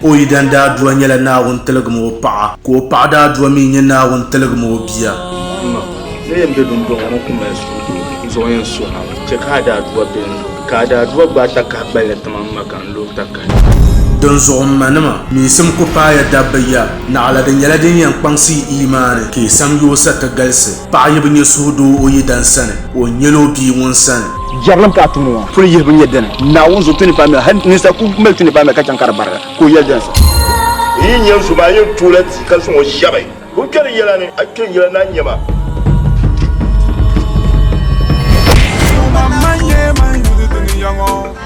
Ka o yidan daadua nyɛla Naawuni tiligim o paɣa. Ka o paɣa daadua mi nyɛ Naawuni tiligim o bia. M ma, n ni yɛn be duŋdɔŋɔ ni n-ku mali suhudoo, n zuɣu yɛn su ha mi. Chɛ ka a daadua be n ni. Ka a daadua gbaai takahi gballi ti ma, m ma, ka n lo takahi. Dinzuɣu m manima, miisim ku paai ya dabba ya, naɣila di nyɛla din yɛn kpaŋsi yi iimaani, ka yi sam yoosa ti galisi. Paɣa yi bi nyɛ suhudoo o yidana sani, o ni nyɛl o bia ŋun sani. Jɛrilim ka a tum ŋɔ. Puli yihibu n-nyɛ dini? Naawuni zuɣu tuni paamiya. Hal ninsal ku mali tuni paamiya ka chaŋ ka di barigi, ka o yɛli dini sa? N yi nya n so maa, n yɛn tuui la ti ka zaŋ o shɛbi. Ka o kpɛri yɛla ni, A kpɛ n yɛla ni a nya ma.